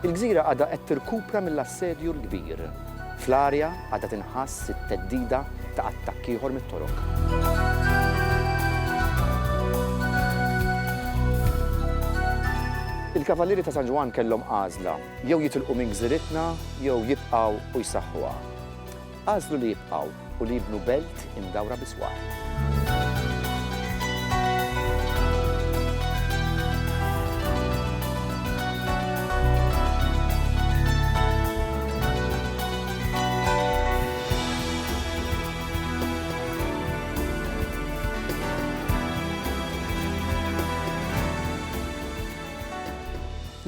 Il-gżira għadha qed tirkupra mill-assedju l-kbir. Fl-arja għadha tinħass it-theddida ta' attakk ieħor mit-Torok. Il-Kavallieri ta' San Ġwann kellhom għażla, jew jitilqu minn gżiritna jew jibqgħu u jsaħħuha. Għażlu li jibqgħu u li jibnu belt imdawra bi sward.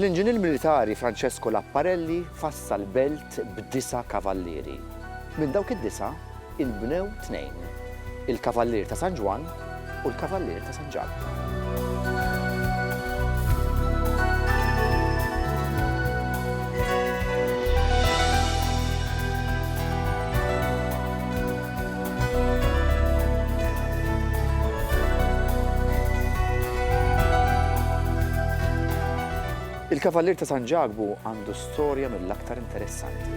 L-inġinier militari Francesco Lapparelli fassal belt Art b'disa' kavallieri. Minn dawk id-disa' inbnew tnejn, il-Kavallier ta' San Ġwann u l-Kavallier ta' San Ġakbu. Il-Kavallier ta' San Ġakbu għandu Storja mill-aktar interessanti.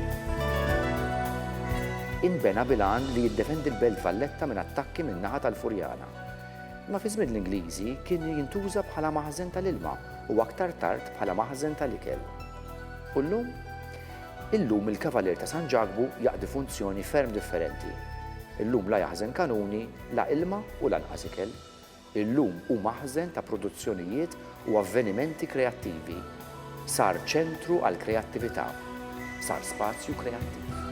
Inbena bil-għan li jiddefendi l-Belt Valletta minn attakki min-naħa tal-Furjana. Imma fi żmien l-Ingliżi kien jintuża bħala maħżen tal-ilma u aktar tard bħala maħżen tal-ikel. U llum? Illum il-Kavalier ta' San Ġakbu jaqdi funzjoni ferm differenti. Illum la jaħżen kanuni, la ilma u lanqas ikel. Illum hu maħżen ta' produzzjonijiet u avvenimenti kreattivi. Sar ċentru għall-kreattività. Sar spazju kreattiv.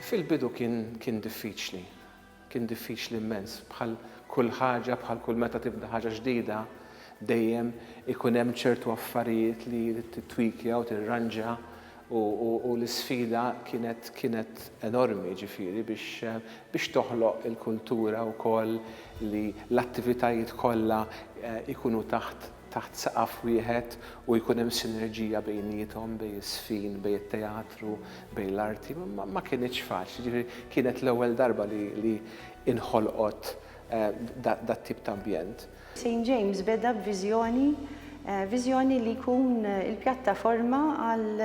Fil-bidu kien diffiċli. Kien diffiċli mmens. Bħal kull ħaġa, bħal kull meta tibda ħaġa ġdida, dejjem ikun hemm ċertu affarijiet li jrid tittwikja u tirranġa u l-isfida kienet kienet enormi ġifieri biex biex toħloq il-kultura wkoll li l-attivitajiet kollha jkunu taħt taħt saqaf wieħed u jkun hemm sinerġija bejniethom, bejn iż-żfin, bejn it-teatru, bejn l-arti, ma kinitx faċli. Jiġifieri kienet l-ewwel darba li inħolqot dat-tip ta' ambjent. St James beda b'viżjoni, viżjoni li jkun il-pjattaforma għal,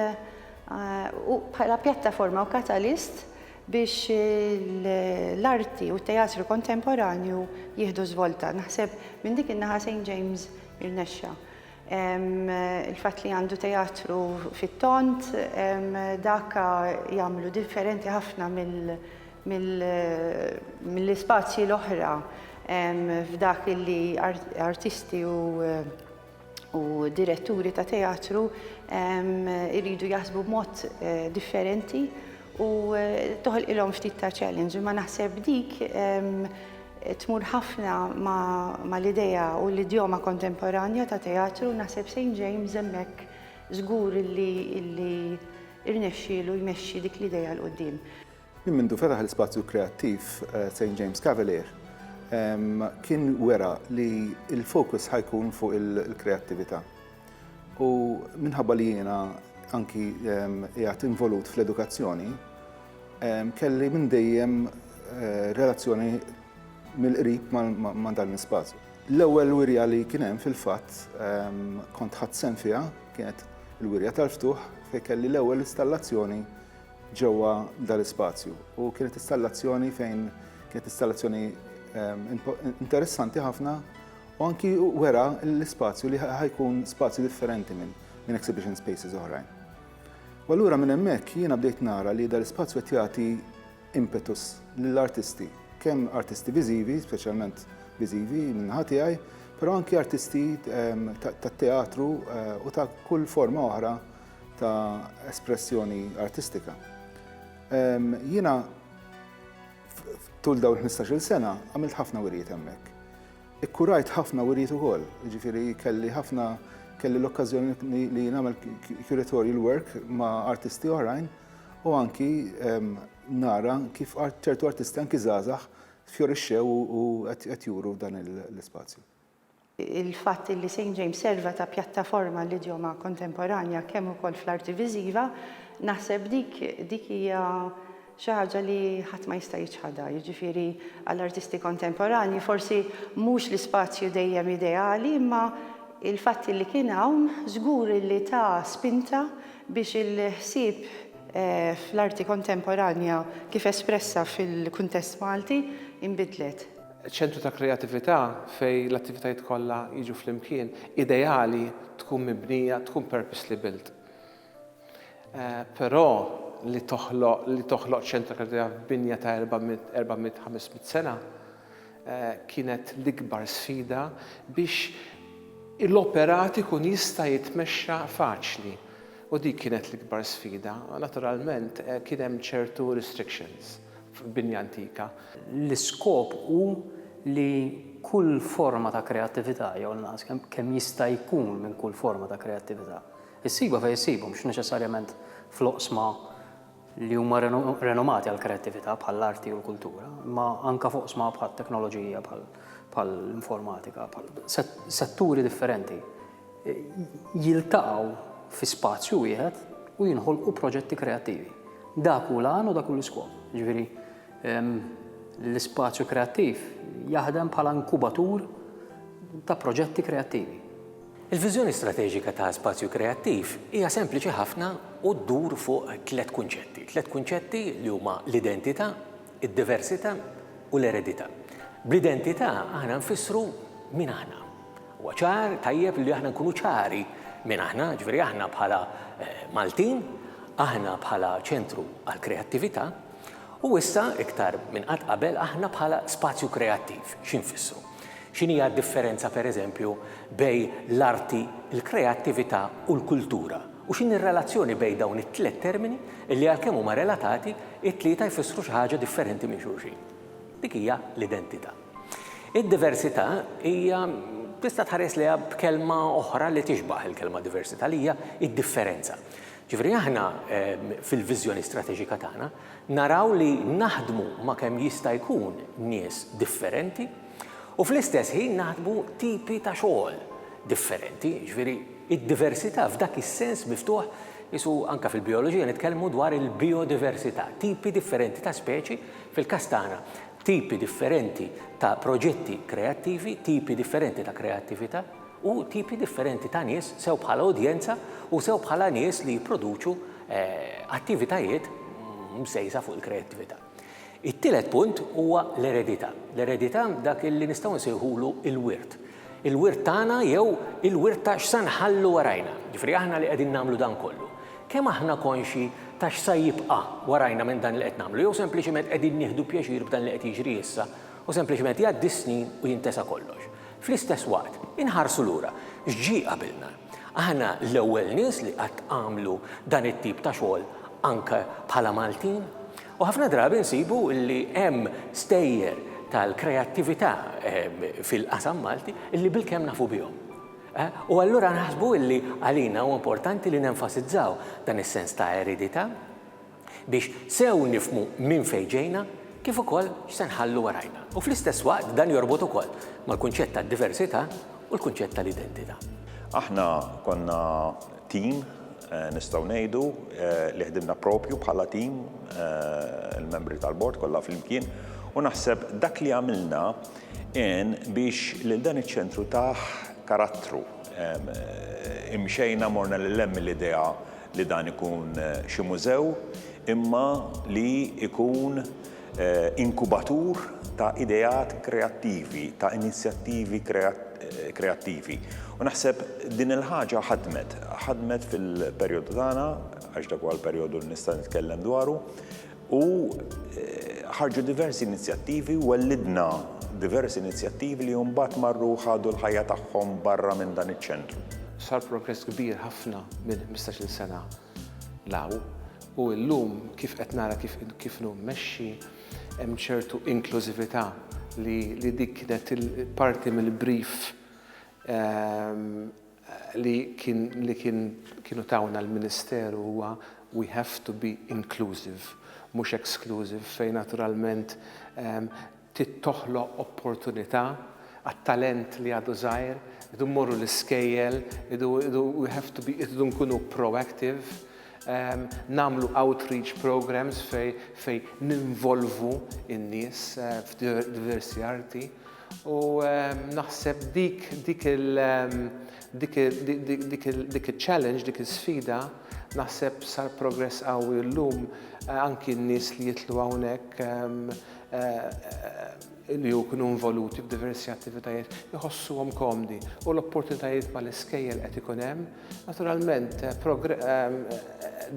bħala pjattaforma u katalist biex l-arti u t-teatru kontemporanju jieħdu żvolta. Naħseb minn dik in-naħa St. James irnexxa. Il-fatt li għandu teatru fit-tont, dak jagħmlu differenti ħafna mill-ispazji l-oħra f'dak li artisti u u diretturi ta' teatru jridu jaħsbu b'mod eh, differenti u eh, toħol ilhom ftit ta' challenge. Ma naħseb dik tmur ħafna ma l-ideja u l-idjoma kontemporanja ta' teatru naħseb St. James hemmhekk żgur li irnexxielu jmexxi dik l-ideja l-qudiem. Minn mindu fetaħ l-ispazju kreattiv St James Cavalier kien wera li l-fokus ħajkun fuq il-kreattività. U minħabba li jiena anki qiegħed involut fl-edukazzjoni, kelli minn dejjem eh, relazzjoni mill-qrib ma' dan l-ispazju. L-ewwel wirja li kien hemm fil-fatt kont ħadd sem fiha kienet il-wirja tal-ftuħ fejn kelli l-ewwel installazzjoni ġewwa dal-ispazju u kienet istallazzjoni fejn kienet istallazzjoni interessanti ħafna u anki wera l-ispazju li ħajkun spazju differenti minn minn exhibition spaces oħrajn. U allura minn hemmhekk jiena bdejt nara li dal-ispazju qed jagħti impetus lill-artisti, kemm artisti viżivi, speċjalment viżivi minn naħa tiegħi, però anki artisti ehm, tat-teatru eh, u ta' kull forma oħra ta' espressjoni artistika. Jiena tul dawn 15-il sena għamilt ħafna wirjiet hemmhekk. Ikkurajt ħafna wirjiet ukoll, jiġifieri kelli ħafna kelli l-okkażjoni li nagħmel curatorial work ma' artisti oħrajn u anki nara kif ċertu artisti anki żgħażagħ fjorixxew u qed juru dan l-ispazju. Il-fatt li St James serva ta' pjattaforma għall-idjoma kontemporanja kemm ukoll fl-arti viżiva, naħseb dik dik hija xi ħaġa li ħadd ma jista' jiċħadha. Jiġifieri għall-artisti kontemporanji forsi mhux l-ispazju dejjem ideali imma l-fatt li kien hawn żgur li ta spinta biex il-ħsieb fl-arti kontemporanja kif espressa fil-kuntest Malti inbidlet. Ċentru ta' kreatività fejn l-attivitajiet kollha jiġu flimkien, ideali, tkun mibnija, tkun purposely built. Però li toħloq li toħloq ċentru ta' kreatività f'binja ta' 400, 500 sena kienet l-ikbar sfida biex l-operat ikun jista' jitmexxa faċli. U dik kienet l-ikbar sfida. Naturalment kien hemm ċertu restrictions. f'binja antika. L-iskop hu li kull forma ta' kreattività, jew l-inqas kemm jista' jkun minn kull forma ta' kreattività, issibha fejn issibha, mhux neċessarjament fl-oqsma li huma renomati għall-kreattività bħall-arti u l-kultura, imma anke f'oqsma bħat-teknoloġija, bħall-informatika, bħal setturi differenti. jiltaqgħu fi spazju wieħed u jinħolqu proġetti kreattivi. Dak hu l-għan u dak hu l-iskop. Ġifieri ehm, l-ispazju kreattiv jaħdem bħala inkubatur ta' proġetti kreattivi. Il-viżjoni strateġika ta' spazju kreattiv hija sempliċi ħafna u ddur fuq tliet kunċetti. Tliet kunċetti li huma l-identità, id-diversità u l-eredità. Bl-identità aħna nfissru min aħna. Huwa ċar, tajjeb li aħna nkunu ċari min aħna, jiġifieri aħna bħala Maltin, aħna bħala ċentru għall-kreattività, u issa iktar minn qatt qabel aħna bħala spazju kreattiv. Xi nfissru? X'inhija d-differenza pereżempju bejn l-arti, il-kreattività u l-kultura? U x'inhi r-relazzjoni bejn dawn it-tliet termini li għalkemm huma relatati, it-tlieta jfissru xi ħaġa differenti minn xulxin? Dik hija l-identità. Id-diversità hija tista' tħares lejha b'kelma oħra li tixbah il-kelma diversità li hija d-differenza. Ġifieri aħna fil-viżjoni strateġika tagħna naraw li naħdmu ma' kemm jista' jkun nies differenti u fl-istess ħin naħdmu tipi ta' xogħol differenti. Ġifieri d-diversità f'dak is-sens miftuħ qisu anke fil-bijoloġija nitkellmu dwar il-bijodiversità, tipi differenti ta' speċi, fil-każ tagħna tipi differenti ta' proġetti kreattivi, tipi differenti ta' kreattività, u tipi differenti ta' nies sew bħala udjenza u sew bħala nies li jipproduċu attivitajiet msejsa fuq il-kreattività. It-tielet punt huwa l-eredità. L-eredità dak li nistgħu nsejħulu l-wirt. il-wirt tagħna jew il-wirt ta' x'sa nħallu warajna, jiġifieri aħna li qegħdin nagħmlu dan kollu, kemm aħna konxji ta' x'sa jibqa' warajna minn dan li qed nagħmlu jew sempliċiment qegħdin nieħdu pjaċir b'dan li qed jiġri issa u sempliċiment jgħaddi s-snin u jintesa kollox. Fl-istess waqt, inħarsu lura, x'ġie qabilna? Aħna l-ewwel nies li qatt għamlu dan it-tip ta' xogħol anke bħala Maltin? U ħafna drabi nsibu li hemm stejjer tal-kreattività fil-qasam Malti li bilkemm nafu bihom. U allura naħsbu li għalina huwa importanti li nenfasizzaw dan is-sens ta' eredità biex sew nifhmu minn fejn ġejna kif ukoll x'se nħallu warajna. U fl-istess waqt dan jorbot ukoll mal-kunċett tad-diversità u l-kunċett tal-identità. Aħna konna Tim, nistgħu ngħidu li ħdimna proprju bħala tim, il-membri tal-Bord kollha flimkien, u naħseb dak li għamilna għen biex lil dan iċ-ċentru tah karattru. Imxejna morna lil hemm mill-idea li dan ikun xi mużew imma li jkun inkubatur ta' ideat kreattivi, ta' inizjattivi kreattivi. U naħseb din il-ħaġa ħadmet, ħadmet fil-perjodu tagħna, għax dak huwa l-perjodu li nista' nitkellem dwaru, u ħarġu diversi inizjattivi, wellidna diversi inizjattivi li mbagħad marru ħadu l-ħajja tagħhom barra minn dan iċ-ċentru. Sar progress kbir ħafna minn ħmistax-il sena Law, u illum kif qed nara kif kif inhu mmexxi, hemm ċertu inklużività li li dik kienet parti mill-brief li kien li kien kienu tawna l-Ministeru huwa we have to be inclusive, mhux exclusive fejn naturalment Trid toħloq opportunità għat-talent li għadu żgħir, irridu mmorru l-iskejjel, irridu, we have to be, irridu nkunu proactive, nagħmlu outreach programmes fejn ninvolvu n-nies f'diversi arti u naħseb dik dik il dik dik il dik iċ-challenge, dik is-sfida naħseb sar progress qawwi u llum anki n-nies li jidħlu hawnhekk li jkunu involuti f'diversi attivitajiet jħossuhom komdi u l-opportunitajiet mal-iskejjel qed ikun hemm. Naturalment,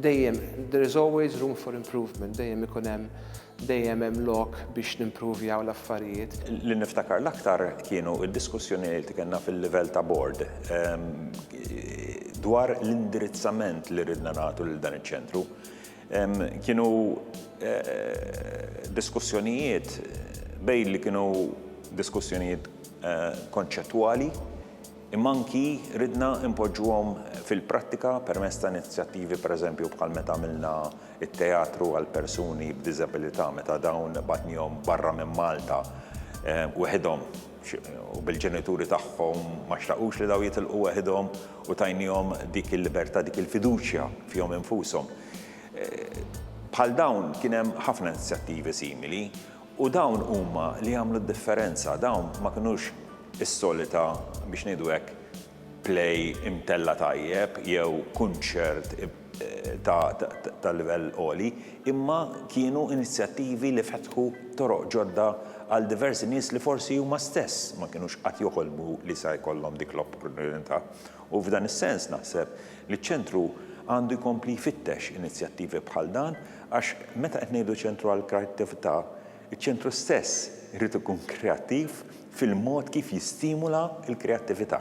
dejjem there is always room for improvement, dejjem ikun hemm dejjem hemm lok biex nimpruvjaw l-affarijiet. Li niftakar l-aktar kienu d-diskussjonijiet li kellna fil-livell ta' bord dwar l-indirizzament li ridna nagħtu lil dan iċ-ċentru. Kienu diskussjonijiet bejn li kienu diskussjonijiet konċettwali imma anki ridna npoġġuhom fil-prattika permezz ta' inizjattivi pereżempju bħal meta għamilna t-teatru għal persuni b'diżabilità meta dawn batnihom barra minn Malta weħidhom. u bil-ġenituri tagħhom ma xtaqux li dawn jitilqu weħidhom u tajniehom dik il-libertà, dik il-fiduċja fihom infushom. Bħal dawn kien hemm ħafna inizjattivi simili u dawn huma li għamlu d-differenza, dawn ma kinux is-solita, biex ngħidu hekk, play imtella' tajjeb jew kunċert ta' livell għoli, imma kienu inizjattivi li fetħu toroq ġodda għal diversi nies li forsi huma stess ma kinux qatt joħolmu li sa jkollhom dik l-opportunità. U f'dan is-sens naħseb li ċ-Ċentru għandu jkompli jfittex inizjattivi bħal dan għax meta qed ngħidu ċentru għall-kreattività, iċ-Ċentru stess irid ikun kreattiv fil-mod kif jistimula l-kreattività.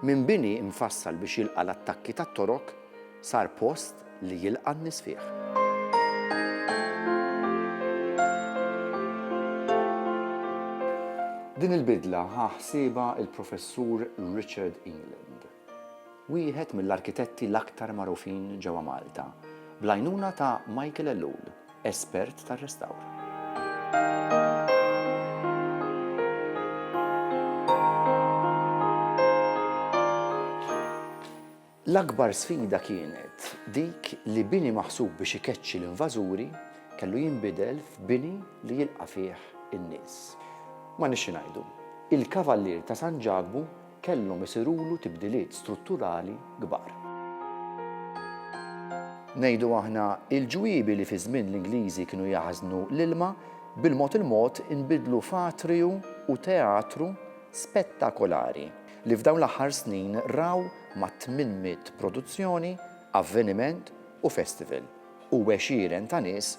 Minn bini mfassal biex jilqa' l-attakki tat-Torok, sar post li jilqa' n-nies fih. Din il-bidla ħa ħsiebha l-Professur Richard England, wieħed mill-arkitetti l-aktar magħrufin ġewwa Malta, bl-għajnuna ta' Michael Ellul. espert tar-restawr. L-akbar sfida kienet dik li bini maħsub biex ikeċċi l-invażuri kellu jinbidel f'bini li jilqa' fih in-nies. Ma nixxi ngħidu, il-Kavallier ta' San Ġakbu kellhom isirulu tibdiliet strutturali kbar. Ngħidu aħna, il-ġwiebi li fiż-żmien l-Ingliżi kienu jaħżnu l-ilma, bil-mod il-mod inbidlu f'atriju u teatru spettakolari li f'dawn l-aħħar snin raw ma' tmien mitt produzzjoni, avveniment u festival u għexieren ta' nies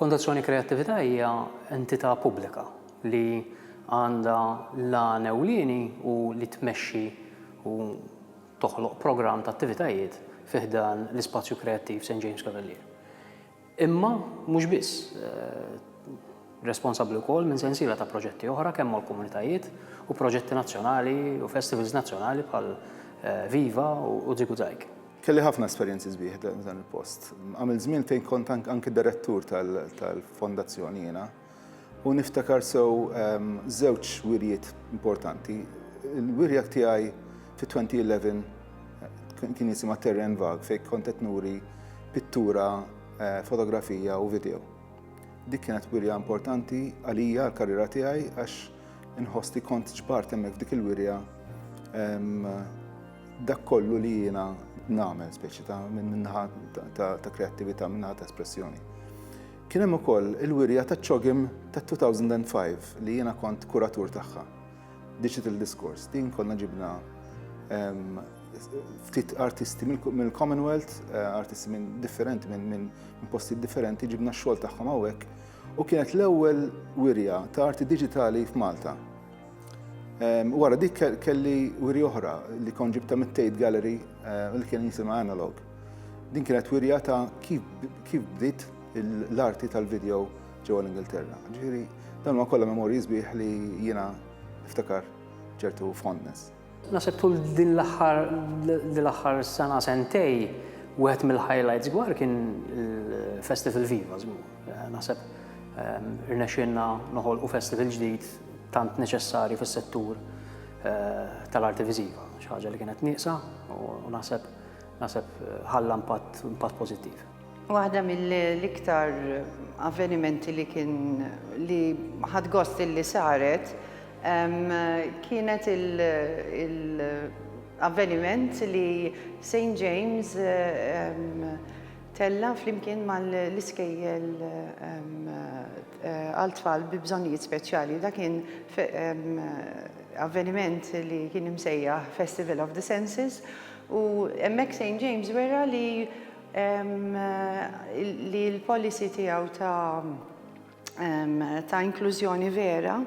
Fondazzjoni Kreattività hija entità pubblika li għandha l-għan ewlieni hu li tmexxi u toħloq programm ta' attivitajiet fi ħdan l-ispazju kreattiv St James Cavalier. Imma mhux biss, responsabbli wkoll minn sensiela ta' proġetti oħra kemm mal-komunitajiet u proġetti nazzjonali u festivals nazzjonali bħal Viva u Ziguzaig. Kelli ħafna esperjenzi sbieħ dan il-post. Għamil żmien fejn kont anki direttur tal-fondazzjoni jiena u niftakar sew ehm, żewġ wirjiet importanti. Il-wirja tiegħi fi 2011 eh, kien jisimha Terren Vag fejn kont qed nuri pittura, eh, fotografija u video. Dik kienet wirja importanti għalija l-karriera tiegħi għax Inħoss li kont ġbart hemmhekk f'dik il-wirja dak kollu li jiena nagħmel speċi ta' minnaħa ta' kreattività, minnaħa ta' espressjoni. Kien hemm ukoll il-wirja ta' ċogim ta' 2005 li jiena kont kuratur tagħha. Digital Discourse, din konna ġibna ftit artisti mill-Commonwealth, eh, artisti minn differenti, minn posti differenti, ġibna xogħol tagħhom hawnhekk u kienet l-ewwel wirja ta' arti diġitali f'Malta. Ehm, wara dik kelli wirja oħra li kon ġibta mit-Tate Gallery eh, li kien jisimha Analog. Din kienet wirja ta' kif bdiet l-arti tal-video ġewwa l-Ingilterra. Ġifieri, dan huwa kollha memorji sbieħ li jiena iftakar ċertu fondness. Naħseb tul din l-aħħar din l-aħħar sena sentej wieħed mill-highlights gwar kien il-Festival Viva żgur. Naħseb ehm, irnexxinna noħolqu festival ġdid tant neċessari fis-settur eh, tal-arti viżiva, xi ħaġa li kienet nieqsa u naħseb naħseb eh, ħalla impatt impatt pożittiv. Waħda mill-iktar avvenimenti li kien li ħad gost li saret Kienet il-avveniment li St James tella' flimkien mal-iskejjel għal tfal bi bżonnijiet speċjali. Dak kien avveniment li kien imsejjaħ Festival of the Senses u hemmhekk St James wera li li l-policy tiegħu ta' ta' inklużjoni vera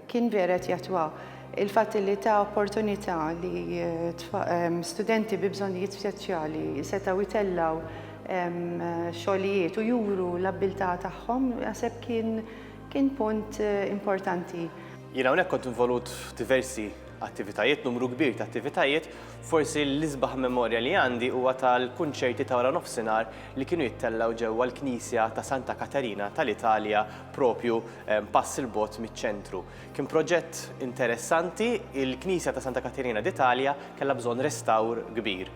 kien vera qed jatwa il-fatt li ta' opportunità li studenti bi bżonnijiet speċjali setgħu jtellaw xogħlijiet u juru l-abbiltà tagħhom naħseb kien kien punt importanti. Jien hawnhekk kont involut f'diversi attivitajiet, numru kbir ta' attivitajiet, forsi l-isbaħ memorja li għandi huwa tal-kunċerti ta' wara nofsinhar li kienu jittellgħu ġewwa l-knisja ta' Santa Katerina tal-Italja proprju pass 'il bogħod miċ-ċentru. Kien proġett interessanti, il-knisja ta' Santa Katerina d'Italia kellha bżonn restawr kbir.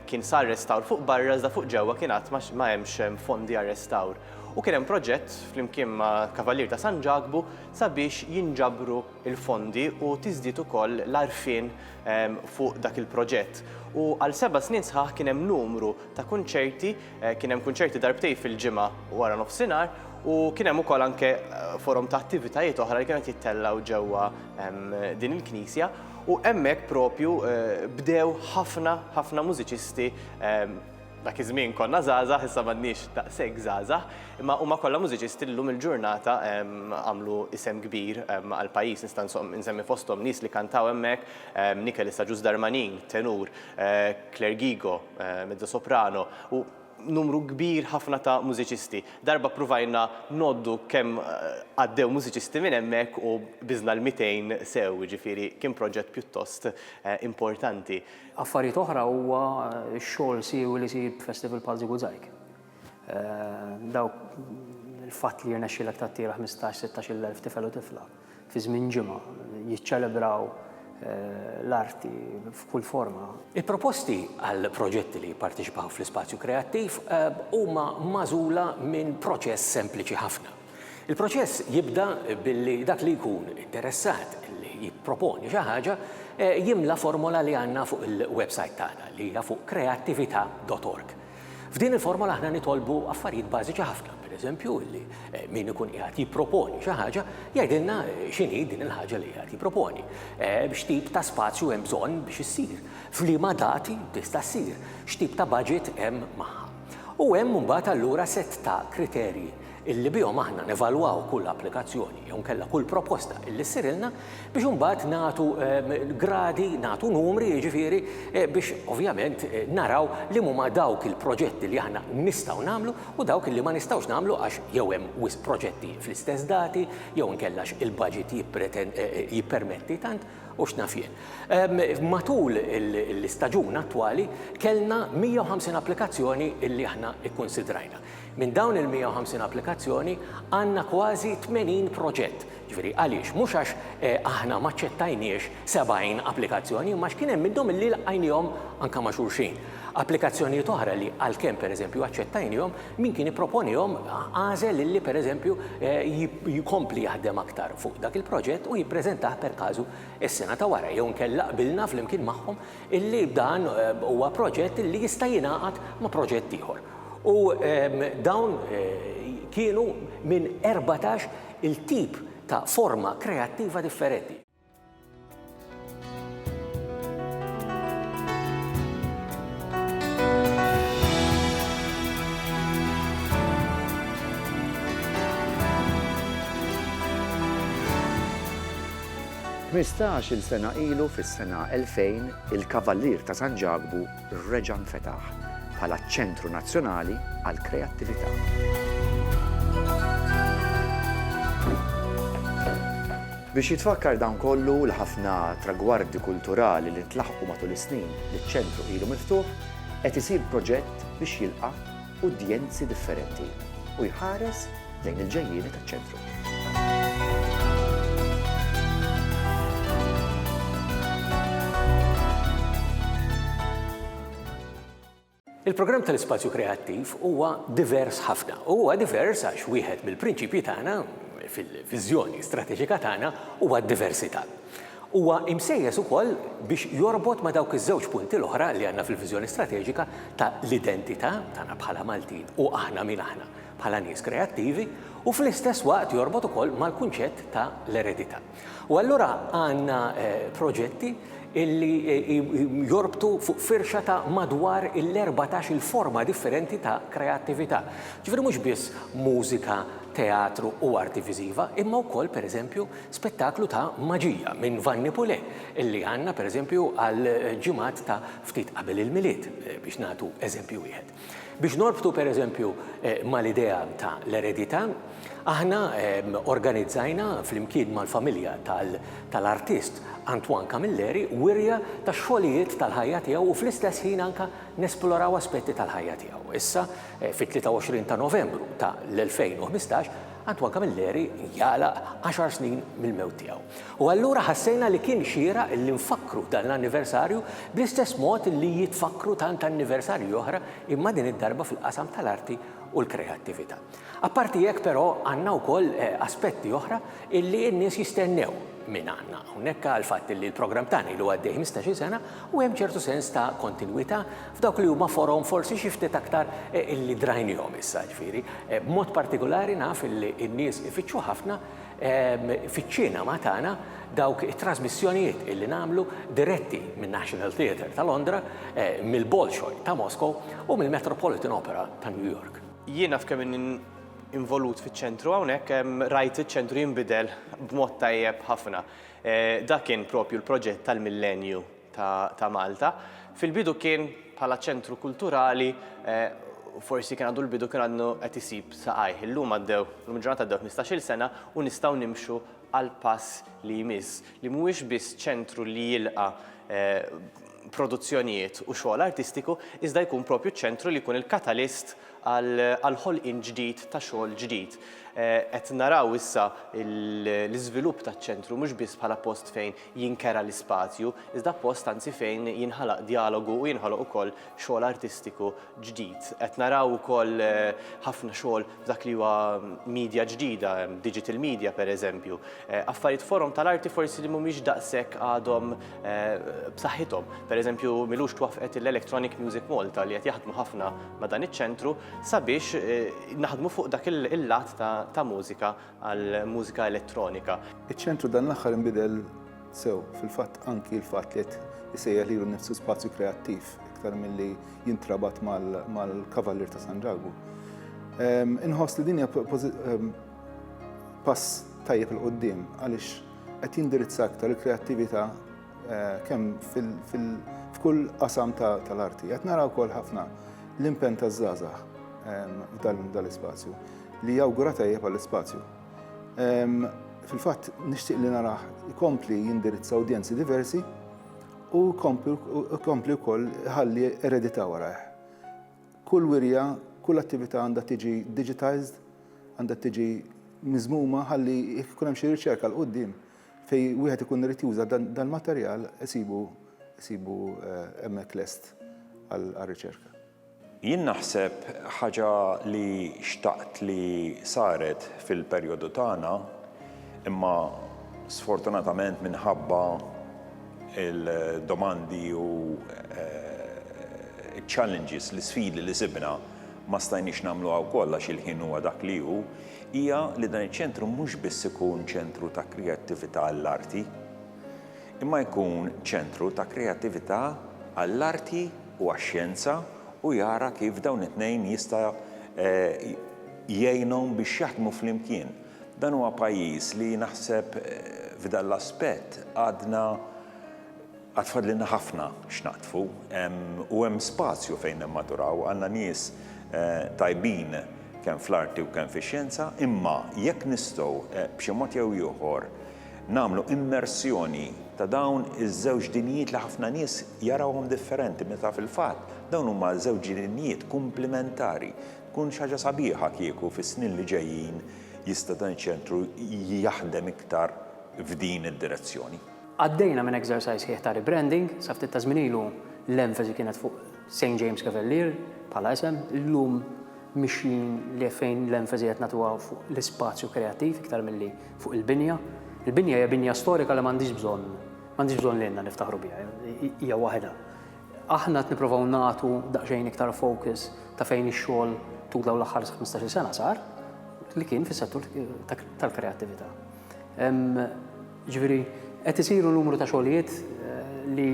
Kien sar restawr fuq barra iżda fuq ġewwa kien għad ma hemmx fondi għar-restawr. U kien hemm proġett flimkien ma' Kavallier ta' San Ġakbu sabiex jinġabru l-fondi u tiżdied ukoll l-għarfien fuq dak il-proġett. U għal seba' snin sħaħ kien hemm numru ta' kunċerti, kien hemm kunċerti darbtejn fil-ġimgħa wara nofsinhar u kien hemm ukoll anke forom ta' attivitajiet oħra li kienu qed jittellgħu ġewwa din il-knisja u hemmhekk propju bdew ħafna ħafna mużiċisti dak iż-żmien konna żgħażagħ issa m'għadniex daqshekk żgħażagħ imma huma kollha mużiċisti li llum il-ġurnata għamlu isem kbir għall-pajjiż nista' nsemmi fosthom nies li kantaw hemmhekk Nikel Issa Ġuż Darmanin tenur Claire Gigo mezzosoprano u numru kbir ħafna ta' mużiċisti. Darba pruvajna ngħoddu kemm għaddew mużiċisti minn hemmhekk u biżna l-mitejn sew, jiġifieri kien proġett pjuttost importanti. Affarijiet oħra huwa x-xogħol siewi li jsir b'festival bħal Ziguzajg. Dawk il-fatt li jirnexxielek tattira ħmistax, sittax-il elf tifel u tifla. fi żmien ġimgħa, jiċċelebraw l-arti f'kull forma. Il-proposti għal proġetti li jipparteċipaw fl-Ispazju Kreattiv huma magħżula minn proċess sempliċi ħafna. Il-proċess jibda billi dak li jkun interessat li jipproponi xi ħaġa jimla formola li għandna fuq il-websajt tagħna li hija fuq kreattivita' dot org. F'din il-formola aħna nitolbu affarijiet bażiċi ħafna, pereżempju li min ikun qiegħed jipproponi xi ħaġa jgħidilna x'inhi din il-ħaġa li qiegħed jipproponi, x'tip ta' spazju hemm bżonn biex issir, f'liema dati tista' ssir, x'tip ta' baġit hemm magħha. U hemm imbagħad allura sett ta' kriterji illi bihom aħna nevalwaw kull applikazzjoni jew inkella kull proposta illi ssirilna biex imbagħad nagħtu gradi, nagħtu numri jiġifieri biex ovvjament naraw liema huma dawk il-proġetti li aħna nistgħu nagħmlu u dawk illi ma nistgħux nagħmlu għax jew hemm wisq proġetti fl-istess dati jew inkella għax il-baġit jippermetti tant u x'naf jien. Matul l-istaġun attwali kellna 150 applikazzjoni illi aħna kkunsidrajna. Minn dawn il-150 applikazzjoni għandna kważi 80 proġett. Ġifieri għaliex? Mhux għax aħna ma ċċettajniex 70 applikazzjoni imma għax kien hemm minnhom illi lqajniehom anke ma' xulxin. Applikazzjonijiet oħra li għalkemm pereżempju aċċettajniehom, min kien ipproponihom għażel illi pereżempju jkompli jaħdem aktar fuq dak il-proġett u jippreżentah per casu s-sena ta' wara jew inkella qbilna flimkien magħhom illi dan huwa proġett illi jista' jingħaqad ma' proġett ieħor. U dawn kienu minn erbatax il-tip ta' forma kreattiva differenti. Tmistax-il sena ilu fis-sena 2000 il-Kavallier ta' San Ġakbu, reġa' nfetaħ bħala ċentru nazzjonali għall-kreattività. Biex jitfakkar dan kollu u l-ħafna tragwardi kulturali li ntlaħqu matul is-snin li ċ-ċentru ilu miftuħ, qed isir proġett biex jilqa' udjenzi differenti u jħares lejn il-ġejjieni taċ-Ċentru. Il-programm tal-Ispazju Kreattiv huwa divers ħafna. Huwa divers għax wieħed mill-prinċipji tagħna, fil-viżjoni strateġika tagħna, huwa d-diversità. Huwa imsejjes ukoll biex jorbot ma' dawk iż-żewġ punti l-oħra li għandna fil-viżjoni strateġika ta' l-identità tagħna bħala Maltin u aħna min aħna bħala nies kreattivi u fl-istess waqt jorbot ukoll mal-kunċett ta' l-eredità. U allura għandna proġetti illi jorbtu fuq firxa ta' madwar l-erbatax il forma differenti ta' kreattività. Ġifieri mhux biss mużika, teatru u arti viżiva imma wkoll per eżempju Spettaklu ta' maġija minn Vanni Pule li għandna pereżempju għal ġimgħat ta' ftit qabel il-Milied, biex nagħtu eżempju wieħed. Biex norbtu pereżempju mal-idea ta' l-eredità, aħna organizzajna flimkien mal-familja tal-artist Antoine Camilleri wirja tax-xogħlijiet tal-ħajja tiegħu u fl-istess ħin anke nesploraw aspetti tal-ħajja tiegħu. Issa fit-23 ta' Novembru ta' l-2015 Antoine Camilleri jagħlaq għaxar snin mill-mewt tiegħu. U allura ħassejna li kien xieraq li nfakkru dan l-anniversarju bl-istess mod li jitfakkru tant anniversarji oħra imma din id-darba fil-qasam tal-arti u l-kreattività. Apparti hekk però għandna wkoll aspetti oħra li n-nies jistennew minn għandna hawnhekk għall-fatt li l-programm tagħna ilu għaddej ħmistax-il sena u hemm ċertu sens ta' kontinwità f'dawk li huma forom forsi xi ftit aktar li drajnihom issa, jiġifieri, b'mod partikulari naf li n-nies ifittxu ħafna fiċ-ċinema tagħna dawk it-trasmissjonijiet li nagħmlu diretti min-National Theatre ta' Londra, mill-Bolshoi ta' Moscow u mill-Metropolitan Opera ta' New York. Jien naf kemm inni involut fiċ-ċentru hawnhekk, rajt iċ-ċentru jinbidel b'mod tajjeb ħafna. Dak kien proprju l-proġett tal-Millenju. ta' Malta. Fil-bidu kien bħala ċentru kulturali forsi kien għandu l-bidu kien għandu qed isib saqajh. Illum għaddew, illum il-ġurnata għaddew 15-il sena u nistgħu nimxu għal pass li jmiss, li mhuwiex biss ċentru li jilqa' produzzjonijiet u xogħol artistiku iżda jkun propju ċentru li jkun il-katalist għal ħolqien ġdid ta' xogħol ġdid. Qed naraw issa l-iżvilupp taċ-ċentru mhux biss bħala post fejn jinkera l-ispazju, iżda post anzi fejn jinħalaq djalogu u jinħoloq ukoll xogħol artistiku ġdid. Qed naraw ukoll ħafna xogħol f'dak li huwa media ġdida, digital media pereżempju. Affarijiet forom tal-arti forsi li mhumiex daqshekk għadhom b'saħħithom. Pereżempju, m'ilux twaffqet l-Electronic Music Malta li qed jaħdmu ħafna ma' dan iċ-ċentru sabiex naħdmu fuq dak il-lat ta' mużika għall-mużika elettronika. Iċ-ċentru dan l-aħħar inbidel sew, fil-fatt anki l-fatt li qed isejjaħ lilu nnifsu spazju kreattiv iktar milli jintrabat mal-Kavallier ta' San Ġagu. Inħoss li din hija pass tajjeb 'il quddiem għaliex qed jindirizza aktar il-kreattività Eh, kemm f'kull qasam tal-arti. Qed naraw wkoll ħafna l-impen taż-żgħażagħ ehm, dal-ispazju li jawgura tajjeb għall-ispazju. Ehm, fil-fatt nixtieq li naraħ ikompli jindirizza udjenzi diversi u kompli wkoll ħalli eredità warajh. Kull wirja, kull attività għandha tiġi digitized, għandha tiġi miżmuma ħalli jkun hemm xi riċerka l-qudiem Fejn wieħed ikun irid juża dal-materjal isibu isibu hemmhekk lest għar-riċerka. Jien naħseb ħaġa li xtaqt li saret fil-perjodu tagħna imma sfortunatament minħabba l-domandi u ċ-challenges, l-isfidi li sibna ma stajniex nagħmluha wkoll għax il-ħin huwa dak li hu, hija li dan iċ-ċentru mhux biss ikun ċentru ta' kreattività għall-arti, imma jkun ċentru ta' kreattività għall-arti u għax-xjenza u jara kif dawn it-tnejn jista' jgħinhom biex jaħdmu flimkien. Dan huwa pajjiż li naħseb f'dan l-aspett għadna Għad fadlilna ħafna x'naqdfu u hemm spazju fejn nimmaturaw. Għandna nies tajbin kemm fl-arti u kemm fix-xjenza, imma jekk nistgħu b'xi mod jew ieħor nagħmlu immersjoni ta' dawn iż-żewġ dinjijiet li ħafna nies jarawhom differenti meta fil-fatt dawn huma żewġ dinjijiet kumplimentari tkun xi ħaġa sabiħa kieku fis-snin li ġejjin jista' dan iċ-ċentru jaħdem iktar f'din id-direzzjoni. Għaddejna minn exercise sħiħ ta' rebranding, sa ftit ta' żmien ilu l-emfasi kienet fuq St James Cavalier bħala isem, illum mixjin li fejn l-emfasi qed nagħtuha fuq l-ispazju kreattiv iktar milli fuq il-binja. Il-binja hija binja storika li m'għandhiex bżonn, m'għandhiex bżonn lilna niftaħru biha, hija waħedha. Aħna qed nipprovaw nagħtu daqsxejn iktar focus ta' fejn ix-xogħol tul dawn l-aħħar ħmistax-il sena sar, li kien fis-settur tal-kreattività. Jiġifieri qed isiru numru ta' xogħlijiet li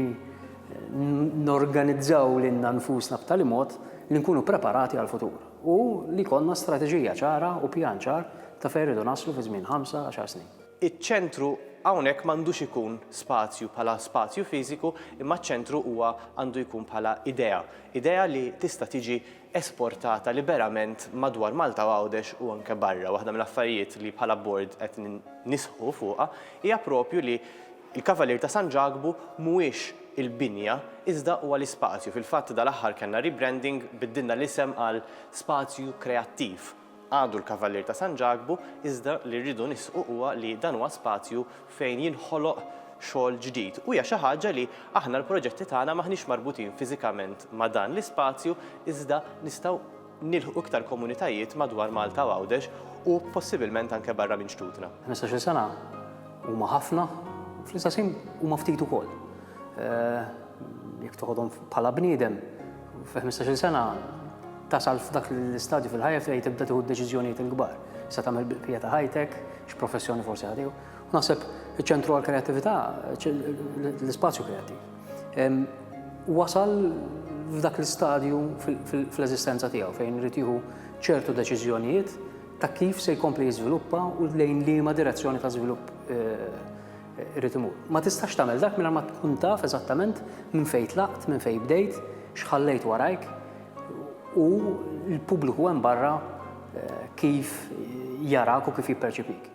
norganizzaw lilna nfusna b'tali mod li nkunu preparati għall-futur u li jkollna strateġija ċara u pjan ċar ta' fejn irridu naslu fi żmien ħamsa, għaxar snin. Iċ-ċentru hawnhekk m'għandux ikun spazju bħala spazju fiżiku imma ċ-ċentru huwa għandu jkun bħala idea. Idea li tista' tiġi esportata liberament madwar Malta u Għawdex u anke barra. Waħda mill-affarijiet li bħala Bord qed nisħqu fuqha hija proprju li l-Kavalier ta' San Ġakbu mhuwiex il-binja iżda huwa l-ispazju. Fil-fatt dal-aħħar kellna rebranding, biddilna l-isem għal Spazju Kreattiv. għadu l-Kavallier ta' San Ġakbu iżda li rridu nisqu huwa li dan huwa spazju fejn jinħoloq xogħol ġdid u hija xi ħaġa li aħna l-proġetti tagħna m'aħniex marbutin fiżikament ma' dan l-ispazju iżda nistgħu nilħqu iktar komunitajiet madwar Malta u Għawdex u possibilment anke barra minn xtutna. Ħmistax-il sena huma ħafna u fl-istess ħin huma ftit ukoll. Jekk toħodhom bħala bniedem, fi 15-il sena tasal f'dak l-istadju fil-ħajja fejn tibda tieħu d-deċiżjonijiet il-kbar. Se tagħmel bil-bqija ta' ħajtek, x'professjoni forsi ħadiew. U naħseb iċ-ċentru għall-kreattività, l-ispazju kreattiv. Wasal f'dak l-istadju fl-eżistenza tiegħu fejn irid jieħu ċertu deċiżjonijiet ta' kif se jkompli jiżviluppa u lejn liema direzzjoni ta' żvilupp Irrid imur. Ma tistax tagħmel dak mingħajr ma tkun taf eżattament minn fejn tlaqt, minn fejn bdejt, x'ħallejt warajk u l-pubbliku hemm barra eh, kif jarak u kif jipperċipik.